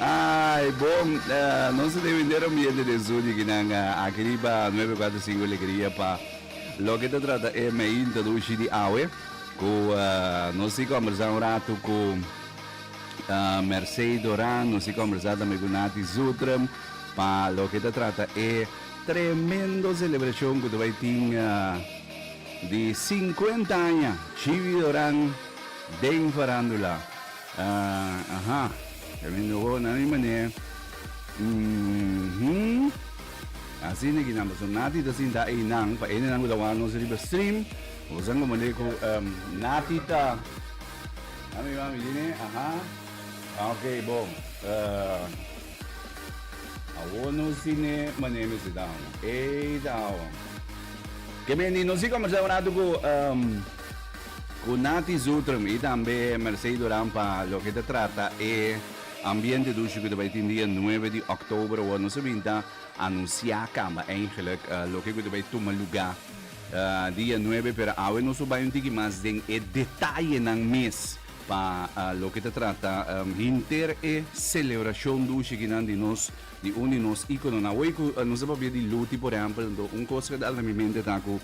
Ai, bon, uh, nos te vender un billete de Zuni que nan uh, aquí riba 945 Alegría pa lo que te trata e me introduci di awe cu uh, nos si conversa un rato cu uh, Mercedes Doran, nos si conversa también cu Nati Zutrum pa lo que te trata e tremendo celebración que te vai tin uh, di 50 años Chivi Doran den farándula. Ah, aha. Qué lindo hoor na mi mané. Mhm. Así ne guinan paso nati ta sinta einan pa ene nan cu ta wak nos riba stream. Bo san como le cu em nati ta. Mami mami di ne aha. Ah ok bo eh awor no si ne mané mester ta hawa. Ey ta hawa. Ke beni nos si conversaba un rato cu em. Cu Natty Zutrum y tambe Mercey Duran pa loke ta trata e ambiente dushi cu ta bay tin dia nuebe di October awor nos a bin ta anuncia camba eigenlijk loke cu ta bay tuma lugar dia nuebe pero awe nos lo bay un tiki mas den e detayenan mes pa loke ta trata hinter e celebracion dushi kinan di nos di un di nos icononan. Awey cu nos a papia di Luti por ehempel un cos cu a dal na mi mente ta cu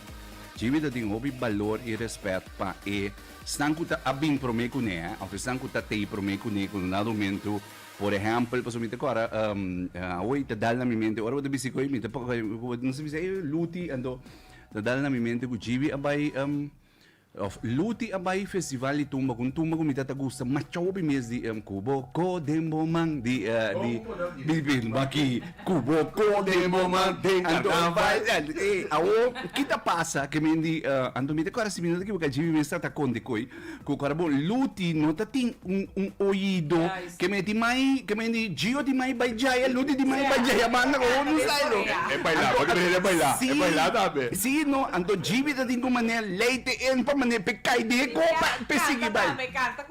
Djebe ta tin hopi balor i rèspèt pa esnan ku ta a bin promé kuné òf esnan ku ta tei promé kuné ku nada humento. Por ehèmpel, pasobra mi ta kòrda awoy ta dal na mi mente ora bo ta bisti ku ei mi ta no si bisa ei Luti anto ta dal na mi mente ku djibi a bai òf Luti a bai festival di tumba ku un tumba ku mi ta ta gusta machòpi mes di Kubo Ko den bo man di di di baki. Cu bo con den moma den carnaval eh awo ki ta pasa ke men di Anton Pieter cuando si mi no ta equivoca Jimmy Mesta ta con di coy cu cuando bo luti no ta tin un un oido ke men tin mai ke men di Gio tin mai bay jaya luti tin mai bay jaya manga con hopi sai lo E baila porque mi quiere baila e baila tambe. si si no anto Jimmy ta tin cu mane ley te en pa mane pe cay den e copa pe sigui bay.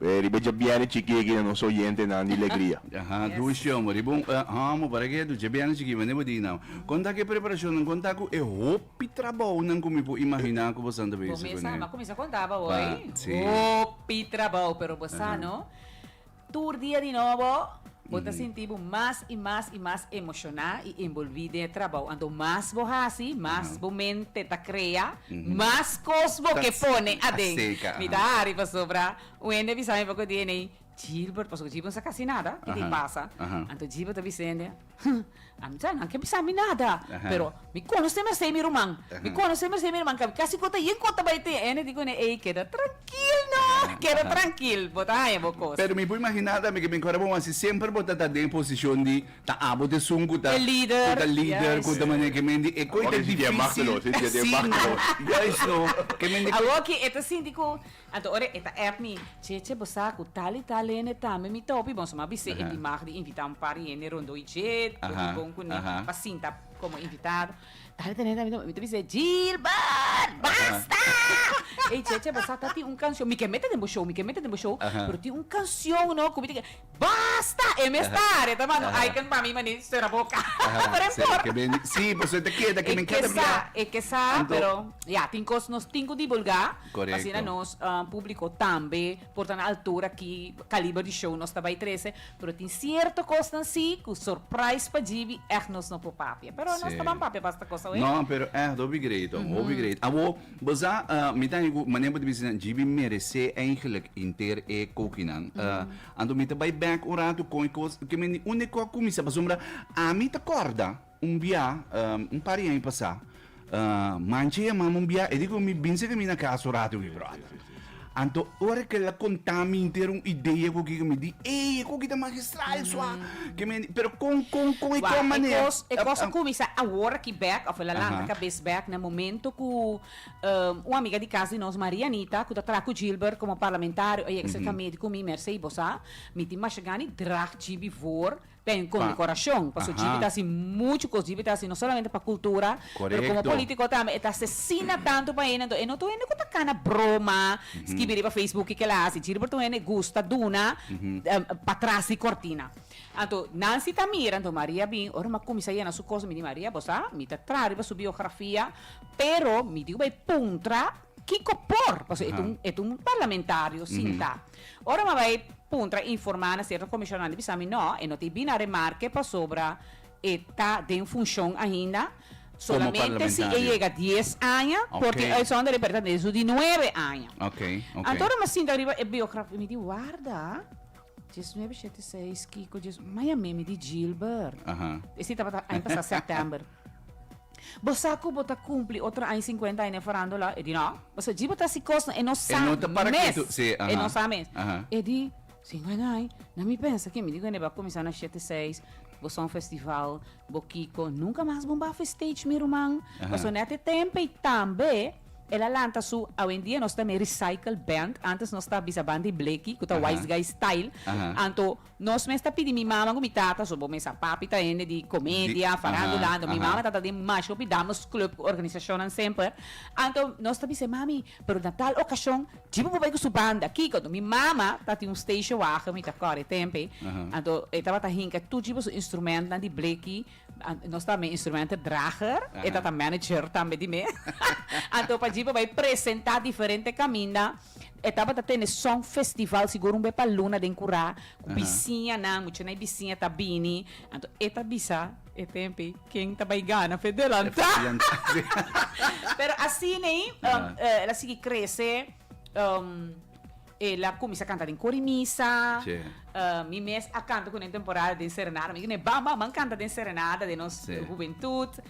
Riba Djabièrnè Chikí aki na nos oyentenan di Legria. Aha, Louis Jong, riba un e homo para ke edu Djabièrnè Chikí mende bo di nau. Kon ta ku e preparashonnan, kon ta ku e hopi trabounan ku mi por imaginá ku bosan ta bini Bo mesa, mi a kuminsá konta bo awor, Ba, si. hopi trabou, pero bo sa no, tur dia di nobo, Bo ta sinti bo mas i mas i mas emoshoná i enbolví den e trabou. Anto mas bo hasi, mas bo mente ta krea, mas kos bo ke pone aden. Mi ta hari pasobra Wendy a bisa mi oko di enei, Gilbert, pasobra Gilbert no sa kasi nada, kiko i pasa? Anto Gilbert a bisa hende, Huh, A misa nan ke bisa mi nada, pero mi konosé mester mi ruman. Mi konosé mester mi ruman, ka kasi kota yin kota bai tin ene di kuné ey keda trankil no, keda trankil bo ta haña bo kos. Pero mi por imaginá tambe ke mi kora bo wasi semper bo ta ta den posishon di ta abo ta esun ku ta ku ta lider ku ta manera ke men di e koita difisil. Sinti e machtelose, sinti e machtelose. Juist no, ke men di. Awoki e ta sinti ku Anto ora e ta app mi. Che che bo sa cu tal y tal hende tambe mi ta hopi bon so ma bisé e dimag di invita un par di hende rondó y dje bo di bon cu ne pa sinta como invitado. Tal y tal hende tambe mi ta bisé Gilbert basta ey che che bo sa ta tin un cancion mi ke mete den bo show mi ke mete den bo show pero tin un cancion no cu mi ta ke. Basta! E mes tare ta manda un icon pa mi maní sera boca. Ta den por. Sí, pasobra e ta keda ke men keda bia. E kesa, pero ya, tin kos nos tin ku dibulgá. Korekto. Asina nos públiko tambe por ta na altura ki kaliber di show nos ta bai trese. Pero tin sierto kosnan sí ku sòrprais pa djibi ègt nos no por papia. Pero nos ta ban papia basta kos awe. No, pero ègt hopi greet, hopi greet. Awor, Bo sa, mi ta haya ku manera bo ta bisa nan, GB merece eigenlijk henter e kokinan. Anto mi ta bai back un ratu kon e kos ke men di unda e kos a kuminsá. Pasobra ami ta kòrda un biá, un par di aña pasá, manchi a yamáme un biá, e di ku mi, Binse ku mi na casa un ratu, mi bròder. Anto ora kel a contá mi henter un idea cu kico mi di, ey, e coki ta magistral, sua, ke mi, pero con, con, con, i Wak, con manera? e cos, e cos a cuminsa awor aki bek, of el a lanta cabes bek na momento cu un amiga di cas di nos, Maria Anita, cu ta traha cu Gilbert como parlamentario, ey a kisa ta medi cu mi, Mercey, bo sa, mi tin mashagani draag Gb voor, Ten condecoracion, paso djipi ta haci mucho cos, djipi ta haci no solamente pa cultura, pero como politico tambe, e ta asesina tanto pa hende, enton e no ta un hende cu ta cana broma, scribi riba facebook kico el a haci, djiriber ta un hende gusta duna pa tras di cortina. Anto nan si ta mira, anto Maria bin, ora mi a cuminsa yena su cos, mi di Maria, bo sa, mi ta traha riba su biografia, pero mi di cu bay puntra. Kiko por, pasobra e ta un, e ta un parlamentario sintá. Ora mi a bai puntra, informá na sierto komishon, nan a bisa mi, No, e no ta e bini a remarke pasobra e ta den funshon ainda, solamente si e yega dies aña, porque Uitzonder e perda den su di nuebe aña. Anto ora mi a sinta riba e biografia, mi di, Warda, dies nuebe, shete, seis, Kiko, dies, ma yam'é, mi di, Gilbert. Ese tabata aña pasá, sèptèmber. Bo sa cu bo ta cumpli otro aña cincuenta aña den farandula? E di, No. Bo sa djiba ta si cosnan? E no sa mes! E no sa mes! E di, Cincuenta aña? Na mi pensa que mi di wende bo a cuminsa na shete seis, bo sa un festival, bo kico, nunca mas bo bafo e stage mi ruman, pasobra net e tempo ey tambe el a lanta su, awendia nos ta na e recycle band, antes nos ta bisa banda di bleki cu ta wise guy style, anto Nos mes ta pidi mi mama ku mi tata, so bo mes a papi ta hende di komedia, Di, farandula, aha, anto mi aha. mama ta ta den masha hopi dames club ku organisashonnan semper. Anto nos ta bisa, mami, pero na tal okashon Chibo por bai ku su banda. Kiko? Mi mama ta tin un station wagen, mi ta kòrè tempe, Aha. anto e tabata hinka tur Chibo su instrumentnan di bleki, a nos ta mi instrumenter drager, e Aha. ta ta manager tambe di mi. Anto pa Chibo bai presentá diferente kaminda. E tabata tene son festival, sigur un be pa luna den curá, cu bisiñanan, muchanan y bisiña ta bini. Anto e ta bisa e tempi ken ta bay gana fe delantá. Pero asina el a sigui crece, el a cuminsa canta den cori misa, mi mes a canta cu nan temporada den serenada, mi gina e bam bam, a canta den serenada den nos hubentud.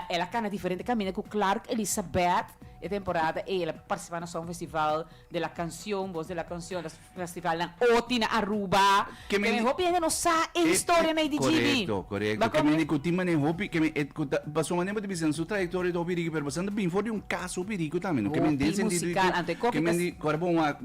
El a cana diferente caminda cu Clark Elisabeth. E temporada ey el a participa na Song Festival de la Cancion, Voz de la Cancion, los festivalnan oti na Aruba. Ke men di. Hopi hende no sa e historia na IDGB. Correcto, correcto. Bakua Ke men di cu tin manera hopi, ke men cu ta, pasobra manera bo ta bisa nan su trayectoria ta hopi rico, pero bo sa nan ta bin for di un caso hopi rico tambe, no? Ke men den Hopi sentido di cu, musical, anto e coffee ke men tas. di, ora bo wak.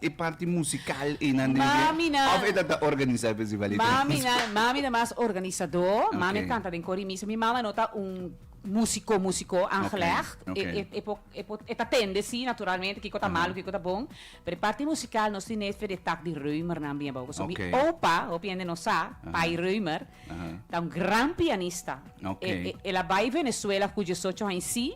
e parti musical einan den dia? Mami nan. Of e tata organisa e festival ei den Mami nan, Cusco? mami nan mas organisadó. Mami a Oké. kanta den kor i misa. Mi mama no ta un músiko, músiko aangelegd. Oké, E oké. e e por e por e ta tende sí, naturalmente, kiko ta malu, Aha. kiko ta bon. Pero e parti musical nos tin nefer di e tak di Reumer nan bia bou. Pasobra mi Oké. opa, hopi hende no sa, Aha. Pai Reumer, Aha. ta un gran pianista. Oké. E e el a bai Venezuela cu diesocho haña sí.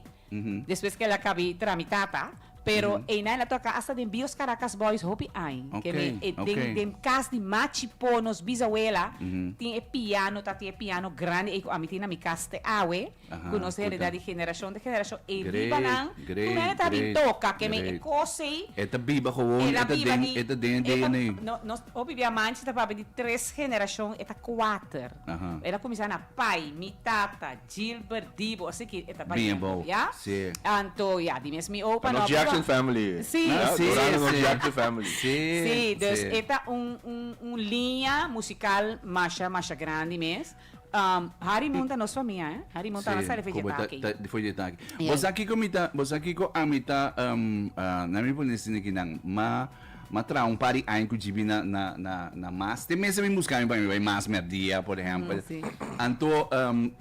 Despues ke el a kabi tramitá ta, pero einan el a toka hasta den bios Caracas Boys hopi aña. Ke me e den den kas di Machi Po nos bisawela tin e piano ta tin e piano grandi ei ku ami tin na mi kas te awe ku nos hereda di generashon te generashon ei riba nan ku nan e ta bin toka ke mi e kos ei e ta biba gewoon e ta den e ta den e ta no nos hopi bia manchi ta papia di tres generashon e ta kuater el a kuminsá na pai mi tata. Gilbert Dibo ese ki e ta baña Dibo, bo ya si. anto ya di mes mi opa No no Jackson family si ya si Dorando no si Jackson family si si dus si. e ta un un un liña musical masha masha grandi mes um Harry Moon ta nos famia eh Harry Moon ta si alasa di como ta feyetaki ta di feyetaki bo ya sa kiko mi ta bo sa kiko ami ta um ah nan mi por nesini kinan ma. Ma traha un par di aña ku djib'i na na na na mas. Te mes a bin buskami pa mi bai mas mèrdia, por ehèmpel. Anto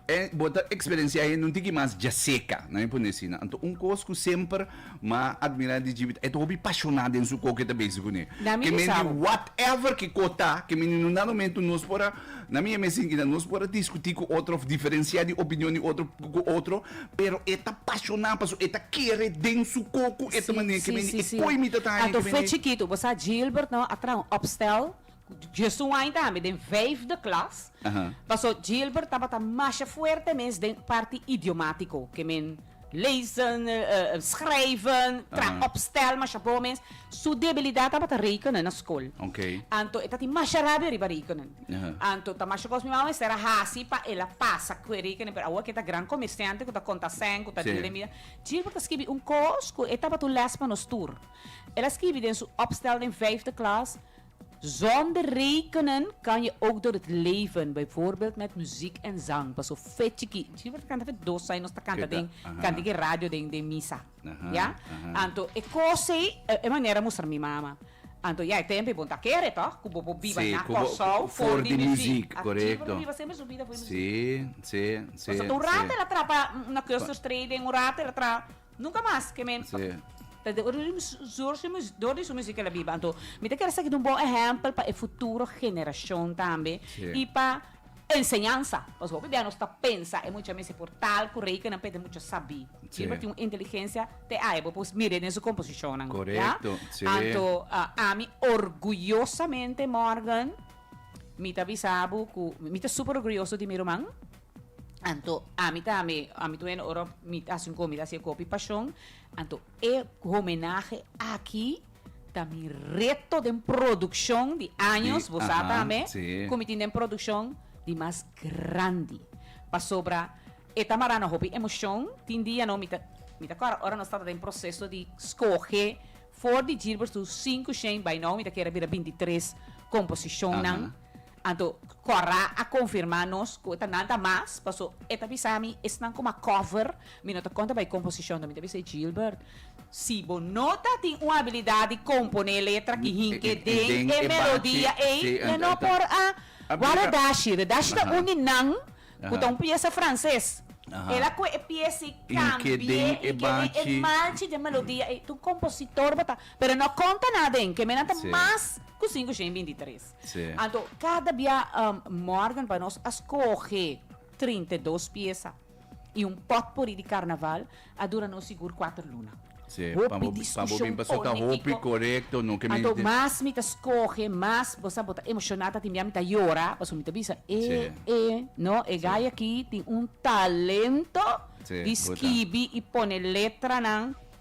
e bo ta eksperensiá hende un tiki mas djaseka, nan mi pone asina. Anto un kos ku semper m'a admirá di djib'i ta e ta hopi pashoná den su kok ke ta bezi kuné. Ke men di whatever kiko ta, ke men di nundan nomentu nos por a. Na mi e mes sinti nan nos por a diskutí ku otro òf diferensiá di opinion di otro ku otro, pero e ta pashoná pasobra e ta kere den su koko e ta manera ke mende e poi mi ta ta aña ke mende. Bo sa Gilbert no a traha un opstel djes un aña tambe den vijfde klas paso Gilbert tabata masha fuerte mes den parti idiomatiko ke men. Lezen, schrijven, traha opstel, masha bo mes. Su debilidad tabata rekenen na school. Anto e ta tin masha rabia riba rekenen. Anto ta masha cos mi mama mester a haci pa el a pasa cu e rekenen. Pero awo cu e ta gran comerciante, cu ta conta cen, cu ta deal den bida. Gilbert a scribi un cos cu e tabata un les pa nos tur. El a scribi den su opstel den vijfde klas, Zonder rekenen kan je ook door het leven, bijvoorbeeld met muziek en zang, paso fe chiki. Chiki por ta kanta fe dos ai nos ta kanta den kanta diki radio den den misa. Ya? Anto e kos ei e manera mustra mi mama. Anto ya e tempo ei bo no ta kere toch ku bo por biba na Kòrsou for di muziek. Chiki por ta biba semper su bida for di muziek. Paso ta un rato el a traha pa una Custerstrate den un rato el a traha. Nunca mas ke mi ta dor di su musica la biba anto mi ta kere saki ta un bon ehempel pa e futuro generacion tambe y pa enseñansa pasobra hopi bia nos ta pensa e mucha mester por tal cu rey kinan p'e mucha sabi ey lo tin un inteligencia te ai bo por mire den su composicionnan ya anto ami orguyosamente Morgan mi ta bisa bo cu mi ta super orguyoso di mi ruman. Anto ami tambe, ami tambe ora mi ta haci un comida así gopi pasion, anto e homenahe aki ta mi reto den produccion di años, Di, bo sa aha, tambe, sí. cu mi tin den produccion di mas grandi. Pasobra e ta mara na hopi emocion, tin dianan mi ta, mi ta acorda ora nos tata den proceso di scoge for di djierber su cinco shen, bai nou mi ta kere bira binti tres composicionnan. Aha. Anto Cora a confirma nos cu ta nada mas paso e ta bisa mi esnan como a cover mi no ta conta pa e composicion dor mi ta bisa e Gilbert si bo no ta tin un habilidad di compone letra ki hinke den e melodia ey e no por a wak Redashi Redashi ta un di nan cu ta un pieza frances el a coe e pieza y cambie hinke den e malchi den melodia ey ta un compositor bo ta pero no conta nada den ke menan ta mas cu cinco shen binti tres. Sí. Anto, kada bia um, Morgan pa nos a skohe 32 piesa i un potpourri di karnaval a dura nos sigur kuater luna. Sí, pa Hopi bo- pa bo diskushon bin paso ta hopi politiko. korekto, no ke mi Anto, te- mas mi ta skohe, mas, bo sa, bo ta emoshoná, ta tin bia mi ta yora, pasobra mi ta bisa, e, Sí. e, no, e gay aki tin un talento Sí, di puta. skibi i pone letranan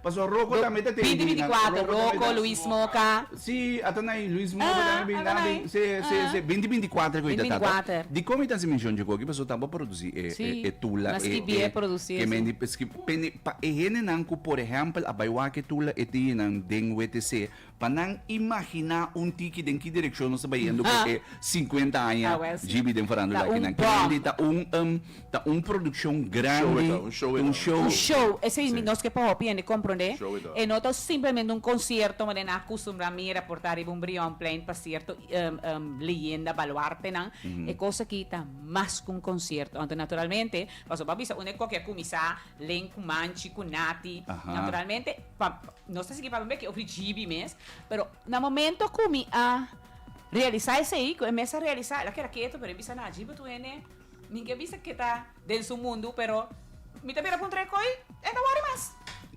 Paso Roko tambe ta tene binan. Binti binti kuater Roko Luis Moka. Si ata nai Luis Moka tambe binan bai se se se binti binti kuater ku ita tata. Dikon mi ta hasi menshon dje ku aki paso tampa produsi e e tula e e ke mendi paske pa e hende nan ku por ehèmpel a bai wak e tula e tin nan den wtc Pa nan imaginá un tiki den ki direkshon nos ta bayendo pa e sinkuenta aña GB den farándula akinan. Kende ta un ta un produkshon grandi, ta un show. Un show, esei mi nos ke pa hopi hende komprondé. E no ta simplemente un konsierto mende nan a kustumbrá mira por ta riba un brionplein pa sierto leyenda baluartenan. E kos aki ta mas ku un konsierto. Anto naturalmente, pasobra bo a bisa un e kokia kuminsá len ku Manchi, ku Nati, naturalmente pa. Nos ta sigui papia ke ofri GB mes, pero na momento ku mi a realisa esei, ku e mes a realisa, el a keda ketu, pero e bisa nan, GB tu hende, mi ke bisa ke ta den su mundu, pero mi ta bira puntra e koi, e ta wòri mas.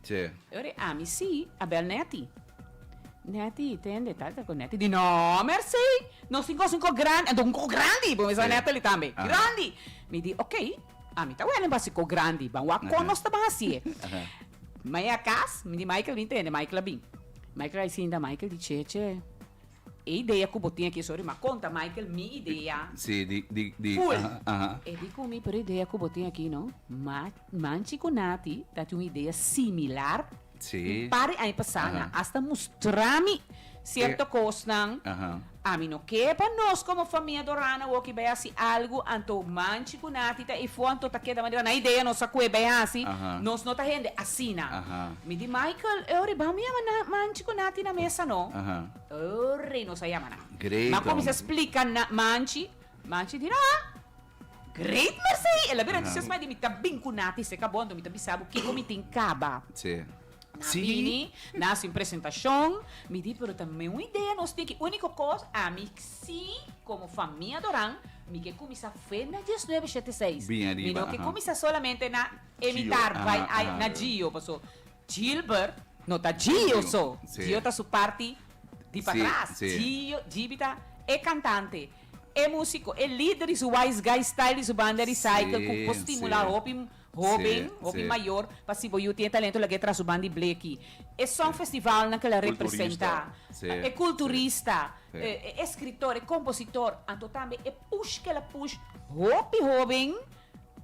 Tsje. E ora e ami si a bèl Netty. Netty, tende, ta ta ku Netty di no, mèrsei, nos tin kos un kok grandi, anto un kok grandi, bo mester Natalie tambe, grandi. Mi di, ok. Ami ta wende basi ko grandi, ban wak kon nos ta ban hasié. Mai a kas, mi di Michael bin tende, Michael a bin. Michael a i sinta, Michael di Cheche, e idea ku bo tin aki esori, m'a konta Michael mi idea. Si, di, di, di, Ful! aha. E di ku mi, pero e idea ku bo tin aki no, ma, manchi ku nati ta tin un idea similar. Un par di aña pasá nan a hasta mustra mi cierto cosnan. Ami no ke pa nos como famia Dorana Woki bai haci algo anto manchi cu Nati ta efo anto ta keda manera nan idea nos a kue bai haci. Nos no ta hende asina. Mi di Michael, Oe riba amo yama nan manchi cu Nati na mesa no. Oe nos a yama nan. Mi a cuminsa splica nan manchi. Manchi di, Nan, Great Marseille! El a bira entusiasma di mi, Ta bin ku na ti seka bondo, mi ta bisa bo kiko mi tin kaba. Sí. Nan Sí. bini, nan hasi un presentashon, mi di, Pero ta meu idea nos tin ki úniko kos, ami sí, komo famia Adoran, mi ke kuminsá fe na dies nuebe shete seis. Bin ariba, Mi no ke aha. kuminsá solamente na imitar, Gio, bai, aha, ai, aha. na Gio, paso Gilbert no ta Gio Gio, so, sí. Gio ta su parti di Sí, patras. sí. Gio, Gb ta e kantante. E músiko, e lider di su Wise Guy Style i su banda Recycle ku por stimulá hopi hóben, hopi mayor pa si bo yu tin e talento laga e tras su banda i bleki. E song festivalnan ke la representá e kulturista, e eskritor, e kompositor, anto tambe e push ke la push hopi hóben,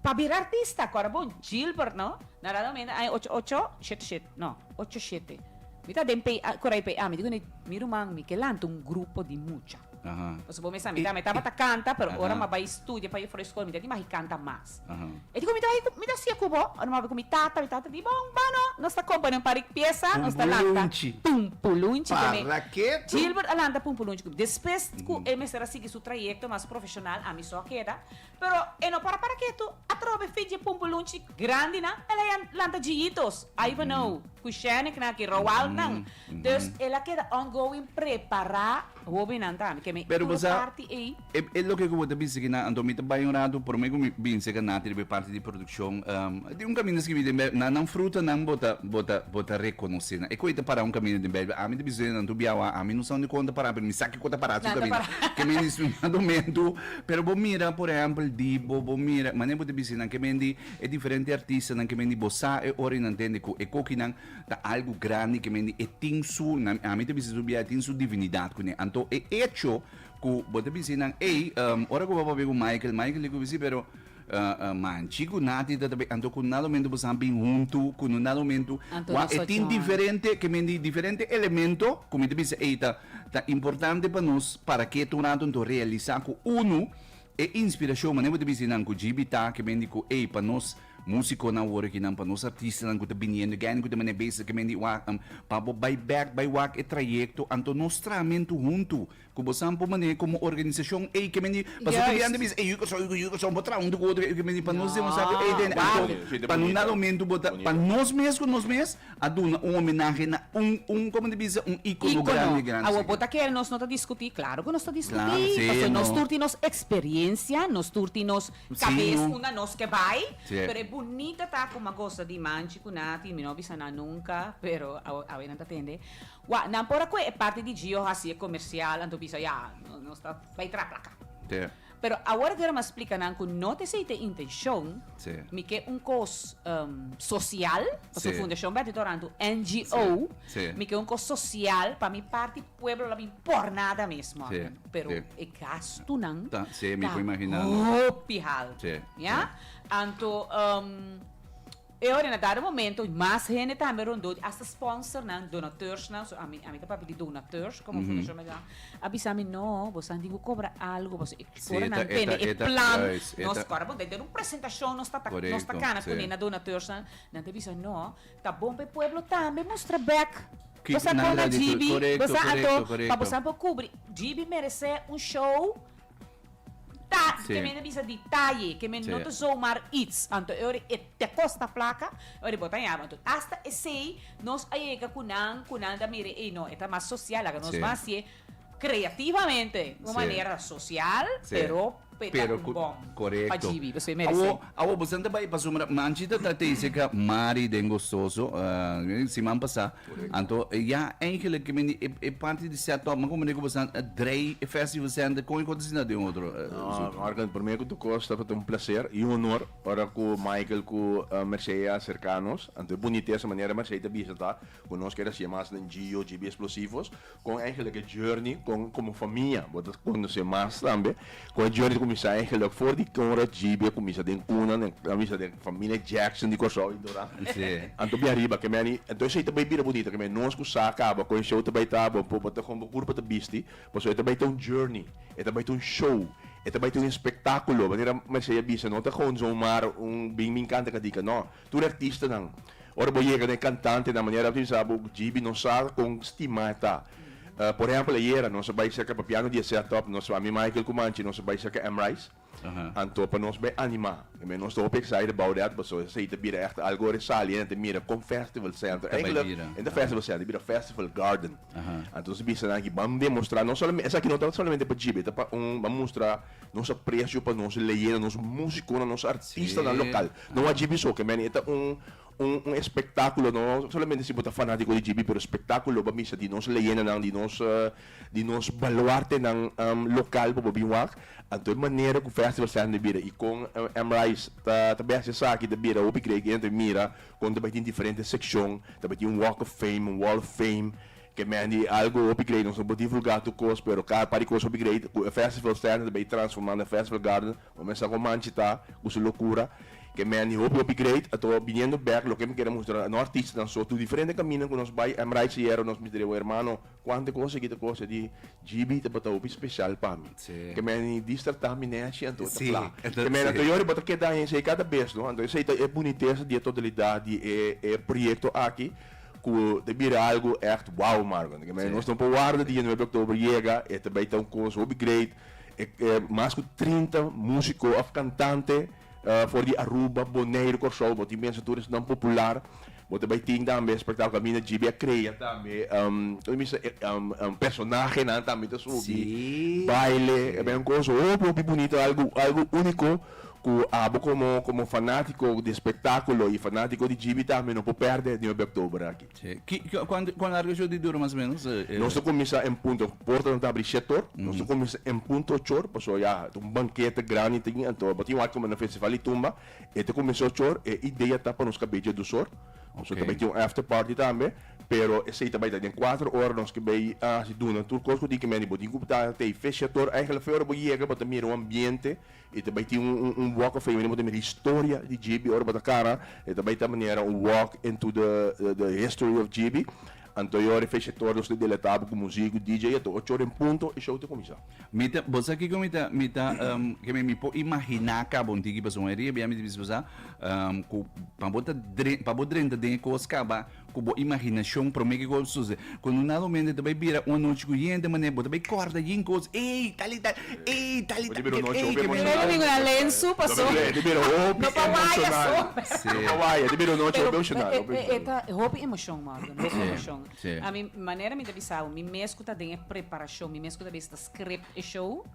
Pa bira artista ku ora bo Gilbert no na Rado Mena ai ocho ocho shete shete no ocho shete mi ta den pei a korai pei a mi di kuné mi ruman mi ke lanta un grupo di mucha pasobra bo mesa mi ta mi tabata kanta pero ora mi a bai studia pa for eskola mi ta di mari kanta mas e di ku mi ta bai mi ta hasié ku bo ora mi a bai ku mi tata mi tata di bon ba no nos ta kompone un parik piesa nos ta lanta pumpulunchi tambe Gilbert a lanta pumpulunchi ku mi despues ku e mester a sigui su trayekto mas profeshonal ami so a keda Pero e no para para ketu, a trobe e fitje pumpulunchi grandinan, el a jan lanta djijitos, Ivanhoe, ku Shanicknan, ku Roaldnan. Dus el a keda ongoing prepará hóbennan tambe, ke mi Pero tur basa parti ei. e e loke ku bo ta bisa aki nan, anto mi ta bai un ratu, promé ku mi binse aka na riba e parti di produkshon, tin un kaminda skibi den Bèbia, na nan frutanan bo ta bo ta bo ta rekonosé nan. E kue ta pará un kaminda den Bèbia, ami ta bisa den nan, anto biawa ami no sa undë kon ta pará, pero mi sa kiko ta pará su Nan ta kaminda, pará. ke mi a instruí nan anto mi anto. Pero bo mira por ehempel di bo bo mira manera bo ta bisti nan ke men di e diferente artistanan ke men di bo sa e ora y nan tende ku e kokinan ta algo grandi ke men di e tin su na ami ta bisti su bia e tin su divinidad kuné anto e hecho ku bo ta bisti nan ey ora ku bo a papia ku Michael Michael di ku bisti pero Manchi ku nati ta tabé, anto ku na lomentu boso a bin huntu ku no na lomentu. Anto nos ocho aña. diferente ke men di diferente elemento ku mi ta bisa ei ta ta importante pa nos para ke ta un ratu anto realisá ku unu e inspirashon manera bo ta bisa di nan ku GB ta ke men di ku ei pa nos musikonan aworiginan pa nos artistanan ku ta biniendo i guendi ku ta manera bes ke men di wak pabo bai bek bai wak e trayekto anto nos traha men tur huntu Ku bo san pon manera komo organisashon ei ke meni paso ku di ante bisa ei yu kòrsou yu yu kòrsou bo traha un di ku otro ei yu ke meni pa nos demonstrá ku ei den e alto pa no na lomentu bo ta pa nos mes ku nos mes a duna un homenahe na un un komo ta bisa un íkono grandi grandi Awo bo ta kere nos no ta diskutí klaro ku nos ta diskutí paso nos tur tin nos eksperiencia nos tur tin nos kabes unda nos ke bai pero e bunita ta ku magosa di man chikuná tin mi no a bisa nan nunka pero awe nan ta tende Wak, nan por a kohe e parti di Gio hasi e komersial, anto bisa, ya, nos ta bai traha plaka. Pero awor Vera m'a splika nan ku no ta esei ta e intenshon, mi ke un kos sosial, pasobra Fundashon Bèt di Torantu, NGO, mi ke un kos sosial pa mi parti pueblo la bin por nada mes mòrten. Pero e gastunan ta hopi haltu, ya. Anto. E ora na dado momento mas hende tambe rondó di hasta sponsornan, donateursnan, so ami ami ta papia di donateurs como Fundacion Meduan a bisa mi no bo sa tin bo cobra algo bo sa e ora nan tende e plan nos cor bo den un presentacion nos ta nos ta cana cune na donateursnan nan ta bisa no ta bon pa e pueblo tambe mustra bek bo sa con na GB bo sa ato pa bo sa por cubri GB merece un show Ta y ke men ta bisa detaye, ke men no ta zomaar its, anto e ora e te kosta plaka, e ora bo ta yama. Anto hasta esei nos a yega ku nan, ku nan ta mira ei no, e ta mas sosial, laga nos mas hasié kreativamente un manera sosial, pero pe ta un bom pa djibi, pasobra e meresé. Awo, boso nan ta bai, pasobra Manchita ta teinse ka Mari den Gostoso, siman pasá, Anto ya eigenlijk ke meni e, e parti di set up, ma como nego basa drei e festival center con e kota sina de otro. eh, No, su- Marcus, primer ku tu kosta pa ta un placer i un honor ora ku Michael ku eh, Mercedes a acerca nos. Anto e bunitesa manera Mercedes ta bisa ta ku nos keda hacié mas den Gio, GB Explosivos, Kon eigenlijk e journey kon komo famia bo ta konosé mas tambe. Kon e journey ta kuminsá eigenlijk for di ora JB a kuminsá den kuna den a bisa den familia Jackson di Kòrsou i Dora. Anto bia riba ke meni anto esei ta bai bira bunita ke meni nos ku sa kaba kon e show ta bai ta bo bo ta kon bo kur pa ta bisti pasobra e ta bai ta un journey e ta bai ta un show e ta bai ta un espektakulo manera Mercedes a bisa no ta kon zomaar un bin mi enkanta kadika no. Tur e artistanan. Ora bo yega na e cantantenan, manera bo tin sa bo, GB nos sa con stima e ta. Por ehempel, ayera nos a bay cerca pa piano di e setup, nos a mi Michael cu Manchi, nos a bay cerca M. Rice, anto pa nos bay anima. Tambe nos ta hopi excited about that, paso esey ta bira echt algo resaliente, mira con Festival Center, eindelijk e ta Festival Center, e bira Festival Garden. Anto nos ta bisa nan aki, bam demostra, no solamente, esaki no ta solamente pa GB, ta pa un, bam mustra nos aprecio pa nos leyenda, nos musiconan, nos artistanan local. No a JB Soccer man, e ta un un espectaculo, no solamente si bo ta fanatico di JB, pero espectaculo lo bo a bisa di nos leyendanan, di nos di nos baluartenan local bo bo bin wak. Anto e manera cu Festival Center ta bira y con M. Rice ta ta bes esaki ta bira hopi great y anto e mira con ta bay tin diferente seccion, ta bay tin Walk of Fame, un Wall of Fame, ke man di algo hopi great, nos no por divulga tur cos, pero cada part di cos hopi great cu e Festival Center ta bay transforma na Festival Garden. Bo mester a koman chita ku su lokura. Ke men di hopi hopi great ato biniendo bek loke mi kere mustra no artistanan so tur diferente kaminda ku nos bai Emrite Sierra nos mi diriba un hermano kuantu e kose kita kos e di GB tabata hopi special pa mi ke men di distrata mi nechi anto ta fla ke men ato yori bo ta keda aña esei kada bes no anto esei ta e bunitesa di e totalidat di e e proyekto aki ku ta bira algu èkt wow marko anto ke men nos no por warda di e nuebe oktobro yega e ta bai ta un kos hopi great. E e mas ku trinta músiko òf kantante for di Aruba, Boneiru, Kòrsou. Bo tin pensa tur esnan popular. Bo ta bai tin tambe Spektakel Kaminda GB a krea tambe kiko mi bisa personahenan tambe ta subi, baile. Ta bay un kos hopi, hopi bunito. Algu, algu úniko ku abo komo, komo fanátiko di spektakulo i fanátiko di GB tambe no por pèrdè den hopi oktòber aki. Si, ki, cuan, cuan largo show di dura mas o menos? Nos ta cuminsa en punto, portanan ta abri shete or, nos ta cuminsa en punto ocho or, paso ya ta un banquete grandi tin, anto bo tin wak como na festival di tumba, e ta cuminsa ocho or, e idea ta pa nos cabe dje dos or, paso ta bay tin un after party tambe, pero esey ta bay ta den cuatro or, nos ke bay haci duna tur cos cu tin cu mende, bo tin cu ta ta e feest shete or, eigenlijk fe ora bo yega bo ta mira un ambiente. E ta bai tin un walk of fame den bote mira historia di JB ora bo ta kara e ta bai ta manera un walk into the history of JB anto ora e fecha tur nos ta deletá bo ku musiko DJ e ta ocho ora en punto e show ta kuminsá. Mi ta bo sa kiko mi ta mi ta ke mi mi por imaginá kaba un tiki pasobra mayoria di biaha mi ta bisa ku sa ku pa bo ta pa bo drenta den e kos kaba. Ku bo imaginashon promé ke kos bo suse ku no nada omente ta bai bira un anochi ku yen te manera bo ta bai kòrda yin kos ey tal y tal ey tal y tal ey ey ke bira un nochi no pa waya so no pa waya te bira un nochi hopi emoshonal hopi emoshonal eta hopi emoshon Morgan hopi emoshon a mi manera mi ta bisa bo mi mes ku ta den e preparashon mi mes ku ta bisa ta script e show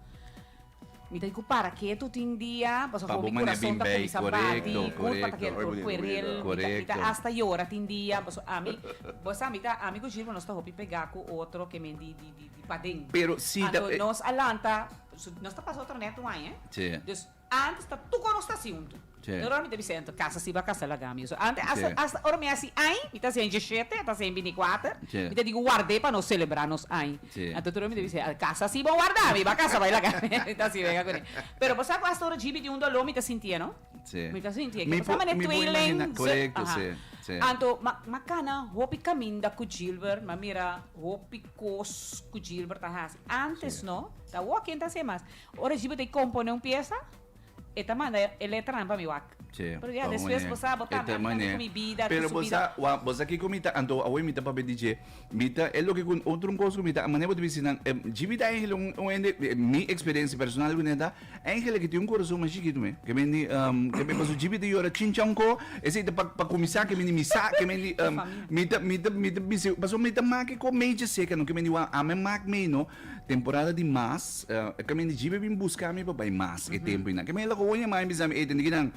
Mi ta di ku para ketu tin dia pasobra Pa hopi bo manera kurason bin ta bei, kumsa bati, korekto, kulpa ta korekto. keda tur fuer di el, mi ta- mi Korekto. ta hasta yora tin dia pasobra ami bo sa mi ta ami ku Gilbert nos ta hopi pega ku otro ke men di di di paden. Pero si ta Anto nos a lanta nos ta pasa otro nèt wan, e? Si. Dus antes ta tur kon nos ta hasi huntu. Doromi ta bisa dentro casa si bo a casa laga mi eso ante hasta ora mi haci ai mi ta haci shete mi ta haci binicuater mi ta digo guarde pa nos celebra nos ai anto doromi ta bisa casa si bo guarda mi bo a casa bai laga mi mi ta haci wega cuni pero bo sa cu hasta ora gb di un dolor mi ta sinti'e no mi ta sinti'e mi por imagina anto ma cana hopi caminda cu Gilbert ma mira hopi cos cu Gilbert ta haci antes no ta awor ken ta haci mas ora gb ta compone un pieza. E ta manda e letranan pa mi wak. Sí, Pero ya pa un despues manera. bo sa bo ta E ta un caminda manera. cu mi bida, cu Pero su bo sa, bida. wak, bo sa kico mi ta antoha awor? Mi ta papia di dje. Mi ta, e loke cu, otro un cos cu mi ta, manera bo ta bisti nan, eh, dje mi ta angel, un, un hende, mi experiencia personal cu nan ta, angel a ke tin un corazon mas chikitu me. Ke mendi, ehm, ke me, paso dje mi ta yora chincha un ko, esei ta pa, pa cuminsa, ke mendi mi sa, ke mendi, ehm, mi ta, mi ta, mi ta bisti, paso mi ta make ko mei dje seca no, ke mendi wak, ami a mak mei no. Temporada di mas, e camin di djibe bin busca mi pa bay mas e tempo y nan. Camin el a hoña ma y a bisa mi, ey tende kinan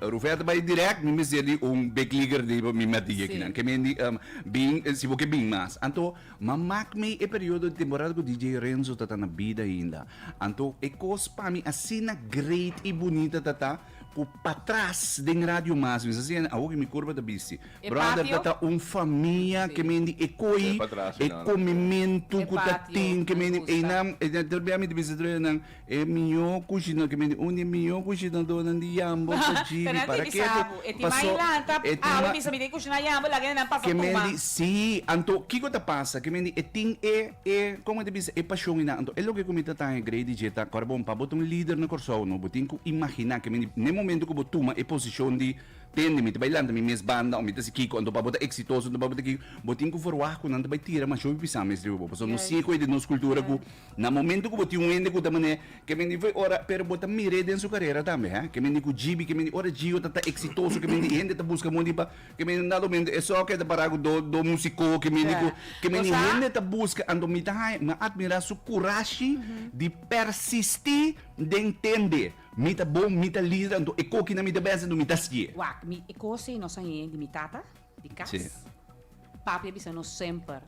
Ruferta bay direct, mi mester di un bekliger di pa mi mete dje kinan. Camin di bin, si bo ke bin mas. Anto ma mak mi e periodo di temporada cu DJ Renzo tata na bida ainda. Anto e cos pa mi asina great y bunita tata cu patras den Radio Mas mi sa siente, awo cu mi curpa ta bisti. E Brother ta patio. ta un famia ke men di e koi Debe patrasa e nan. komimentu E ku ta patio tin ke me men di gusta. einan e ta ta bia mi ta bisa troe nan e mihó kushina ke men di un di e mihó kushinadónan di Yambo ta Pero Jibi nan tin para di ke ko sabu. E tin mai paso lanta e tin awe ma bisa mi tin kushiná Yambo laga e nan pasa ke men tuma. di sí anto kiko ta pasa ke men di e tin e e kon mi ta bisa e pashon einan anto e loke ku mi ta taña Grey di dje ta kòrda bo un pa bo ta un lider na Kòrsou no bo tin ku imaginá ke men di ne momentu ku bo tuma e posishon di Tende, mi ta bai lanta mi mes banda o mi ta si kiko, anto pa bo ta eksitoso, anto pa bo ta kiko, bo tin ku ferwagt ku nan ta bai tira masho bisan mes riba bo, pasobra nos siña koe den nos kultura ku na momentu ku bo tin un hende ku ta manera, ke men di foi ora, pero bo ta mir'é den su karera tambe, ha, ke men di ku GB, ke men di ora Gio ta ta eksitoso, ke men di i hende ta buska mondi pa, ke men di nada momentu esò ke ta para ku do do musiko, ke men di ku, ke men di hende ta buska, anto mi ta haña, mi a atmirá su kurashi di persistí den tende. Mi ta bon, mi ta lider, anto e koki na mi ta bens, anto mi ta skié. Wak, mi e kose nos a hei di mi tata di kas. Papi a bisa nos semper,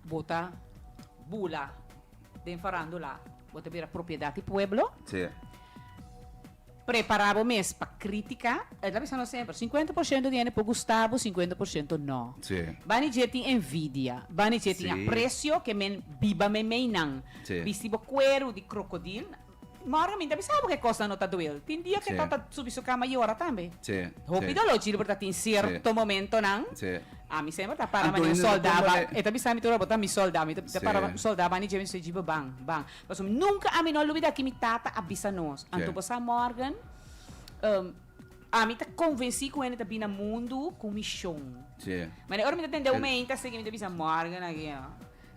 Bo ta bula den farandula, bo ta bira propiedat di pueblo. Prepará bo mes pa krítika. El a bisa nos semper, sinkuenta por shento di hende por gusta bo, sinkuenta por shento no. Bani dje tin envidia, bani dje tin apresio ke men biba meimeinan. Bisti bo kueru di krokodil. Mario, mi ta bisa bo ke kosnan no ta duel. Tin dia ke Sí. tata subi su kama yora tambe. Sí, Hopi sí. doló, Gilbert a tin sierto Sí. momentonan. Sí. Ami semper ta para bani un Antonio no soldá. tuma ba- le- E ta bisa mi tur, bo ta mi soldá. Mi ta ta Sí. para bani un soldá bani dje mi su djibe ban, ban. Pasobra mi nunka ami no a lubidá ki mi tata a bisa nos. Sí. Anto bo sa, Morgan, em, ami ta konvensí ku hende ta bini na mundu ku un mishon. Sí. Manera ora mi ta tende un Sí. hende a sigui mi ta bisa, Morgan, a guia.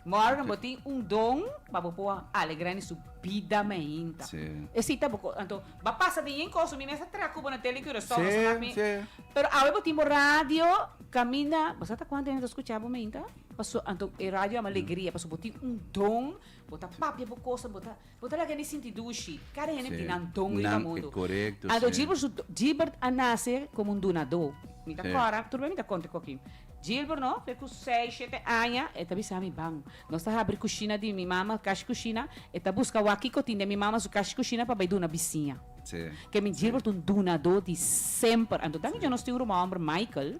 Morgan bo tin un don pa bo por alegra in su bida mainta. Sí. E sita bo ko anto ba pasa den yen koso mi mester tra kubo na tele Curaçao sí, mak mi. Sí. Pero awe bo tin bo radio kaminda bo sa ta kuanto hende ta skucha bo meinta paso anto e radio ama alegria paso bo tin un don bo ta papia bo kosa bo ta Bo ta laga mi sinti dushi. Kada hende tin nan don riba mundu. Ando Gilbert a nase komo un dunadó. Mi ta kòrda, tur bai mi ta konta ku aki. Gilbert no, fe ku seis, shete aña, e ta bisa mi, Ban, nos ta habri kushina di mi mama kashi kushina, e ta buska wak kiko tin den mi mama su kashi kushina pa bai duna bisiña. Ke mi Gilbert un dunadó di semper. Ando tambe djon nos tin un ruma hòmber, Michael,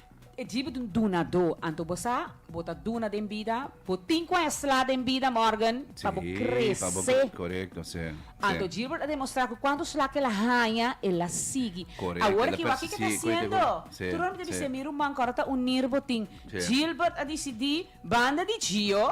E djibi t'un dunadó. Anto bo sa, bo ta duna den bida, bo tin cu a esla den bida, Morgan, pa bo crece. Anto Gilbert a demostra cu cuanto sla qu'el a haña, el a sigui. Awor aki, wak kico e ta haciendo. Tur hopi ta bisti, e mi ruman cu ora ta unir bo tin. Gilbert a dicidi, Banda di Gio.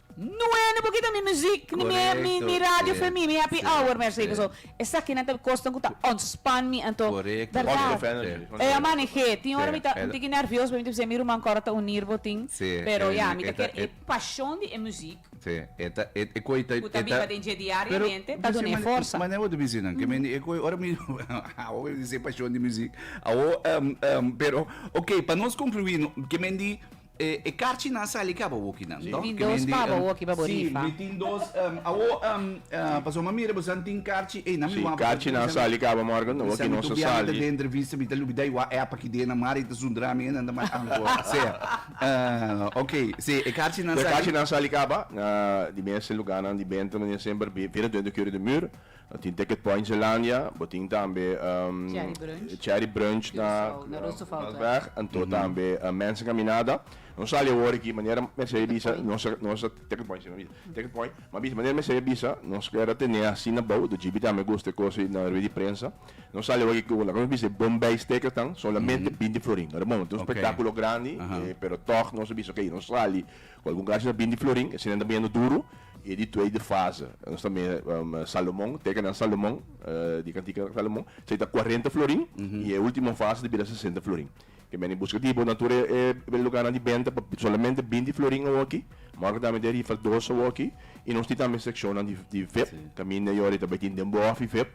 No e ni pokito ni muziek ni mi mi mi radio for mi mi happy hour mi a seki so esakinan ta kosten ku ta ontspan mi anto bèrdat e a manehé tin ora mi ta un tiki nervios pasobra mi ta bisa e mi ruman kòrda ta unir botin pero ya mi ta kier e pashon di e muziek ku ta biba den dje diariamente ta dun'é forsa. Mane bo ta bisa nan ke mi e koi ora mi awo mi ta bisa e pashon di muziek awo pero okay pa nos konkluí no ke mi di E e karchi nan sali kaba woki nan to. Mi tin dos paba woki pa bo rifa. Si mi tin dos em awo em paso mi mira bo san tin karchi ey nan mi wamp ta si mi sa mi ta biaha ta den entrevista mi ta lubi dai wa epa ki den nan mari ta zundra mi nan ta mai anko sea ok si e karchi nan sali. Karchi nan sali kaba di mes e luga nan di benta mi semper bira den de kier de mur No tin Ticket Point Zeelandia, bo tin tambe Cherry Brunch na Roosevelt-weg, anto tambe Mensa Caminada. No sali awor aki manera Mercedes bisa nos a, nos a, Ticket Point si, Ticket Point, m'a bisa manera Mercedes a bisa nos ker a tene asina abou, do GB tambe a gusta e cosa ei na rued di prensa. No sali awor aki ku laga nos bisa e Bombay Steakers tan, solamente binti florin. Ora bon, tin un spektakulo grandi, pero tog nos a bisa, okay, nos sali Cu algun garchi ta bin di Florin, esenen ta biniendo duro, y e di tweede fase. Nos ta mira Salomon, teken nan Salomon, di Cantica nan Salomon, c'ey ta cuarenta Florin, y e ultimo fase ta bira sesenta Florin. Ke meni busca di bo na tur e lugarnan di benta pa solamente binti Florin awoki, ma ora cu ta mete rifa dos awoki, y nos tin tambe seccionnan di vep, caminda y ora y ta bay tin den bof y vep.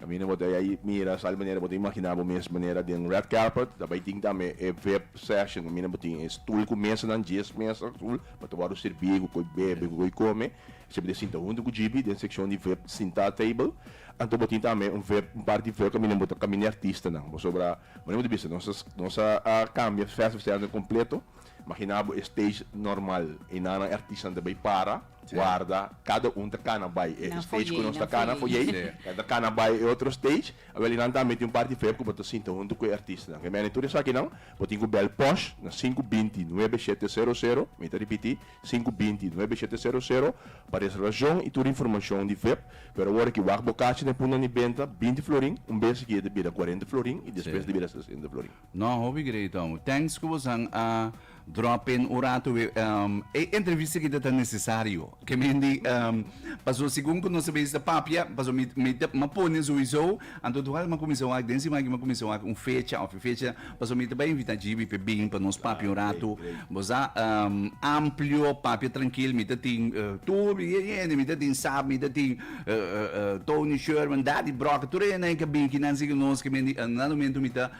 Caminda bo ta yai mira sali manera bo ta imagina bo mes manera den red carpet ta bai tin tambe e vip session caminda bo tin e stoel cu mesanan dies mesa azul pa ta word'e sirbi cu co'e bebe cu co'e come esey bo ta sinta hunto cu GB den seccion di vip sinta table anto bo tin tambe un vip un par di vip caminda bo ta caminda e artistanan pasobra manera bo ta bisa nos nos a cambia festival completo imagina bo e stage normal y nanan e artistanan ta bai para. warda cada un ta cana bay e stage cu nos ta cana foyey nan ta cana bay e otro stage awel y nan ta mete un parti feo cu bo ta sinta hunto cu e artista nan kemene tur esakinan bo tin cu bel posh na sinku binti nuebe shete sero sero mi ta ripiti sinku binti nuebe shete sero sero pa reservacion y tur informacion di vep pero awor aki wak bo cachi na e punta di benta binti florin un bes aki e ta bira cuarenta florin y despues ta bira sesenta florin. No, hopi great amo. Thanks cu vos han a drop in un rato. E, um, e entrevista kita ta necesario. Que men di, um, paso segun cu nos sabes ta papia, paso mi, mi ta, ma pone sowieso, anto dual ma cuminsa wak, den sima aki ma cuminsa wak un fecha of e fecha, paso mi ta bay invita Jibi pe bin pa nos papia un Great, rato. great. Bo sa, um, amplio, papia trankil, mi ta tin, uh, tur, mi ta tin, sap, mi ta tin. Tony Sherman, Daddy Broca, tur e hende nan ke bin aki nan sigue nos kimen di nan momento mi ta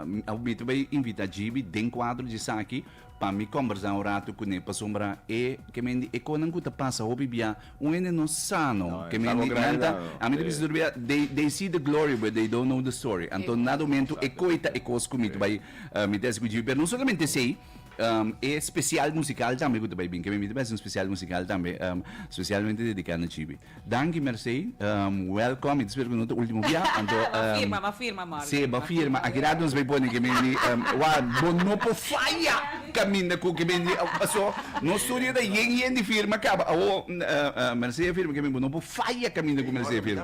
mi ta bay invita GB den cuadro di esaki pa mi conversa un rato cune pasobra e kimen di e conan cu ta pasa hopi bia un hende no sano kimen di nan ta a mi ta bisa tur bia they they see the glory but they don't know the story anto nan momento e coita e cos cu mi ta bay mete así cu GB pero no solamente esey. Um, e special musical tambe ku ta bai bin, ke mi miti bes un special musical tambe, um, specialmente dedicado na Chibi. Danki Mercey, um, welcome, ik spero ku no ta ultimo bia, anto, Ba um, firma, ba firma morgen. Sí, ba firma. Aquí rato nos vai poner que mendi, um, wa, bo no po falla caminda cu que mendi, uh, so, no studio da yen yen di firma caba, awo, uh, uh, Mercey firma que mendi, bo no po falla caminda cu Mercey firma.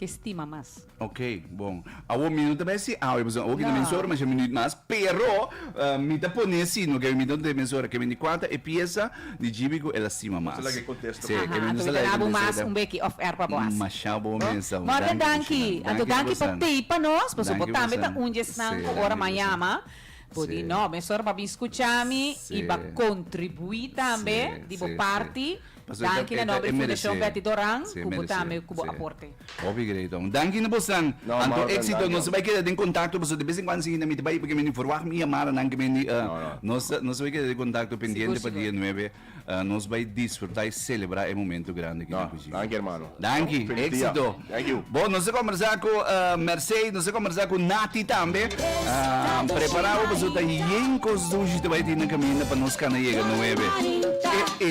ke stima mas. Ok, bon. Awor mi no ta bay si awe pasobra awor ke ta mensora masha minüt mas, pero mi ta pone si no ke mi no ta mensora ke mende kua ta e piesa di GB ku el a stima mas. Si, ke mi no ta laga di mensora. Masha bon mesa. Danki Morde danki. Anto danki pa tei pa nos pasobra bo tambe ta un di esnan ku ora m'a yama bo di no mensora mabien skucha mi i bo a kontribuí tambe di bo parti. Danki na nomber di Fundacion Betty Doran cu bo tambe cu bo aporte. Hopi greiton. Danki na bosnan. Anto exito. Nos ta bay keda den contacto pasobra de vez en cuando si hinda mi ta bay porque mi no verwacht mi yamadanan cu mi di nos ta nos ta bay keda den contacto pendiente pa dia nuebe. Nos bay disfruta y celebra e momento grandi aki den Cujina. Danki hermano. Danki, éksito. Bo, nos a kòmbersá ku Mercé, nos a kòmbersá ku Nati tambe. Prepará bo pasobra ta yen kos dushi ta bai tin na kaminda pa nos kanda yega nuebe. E e.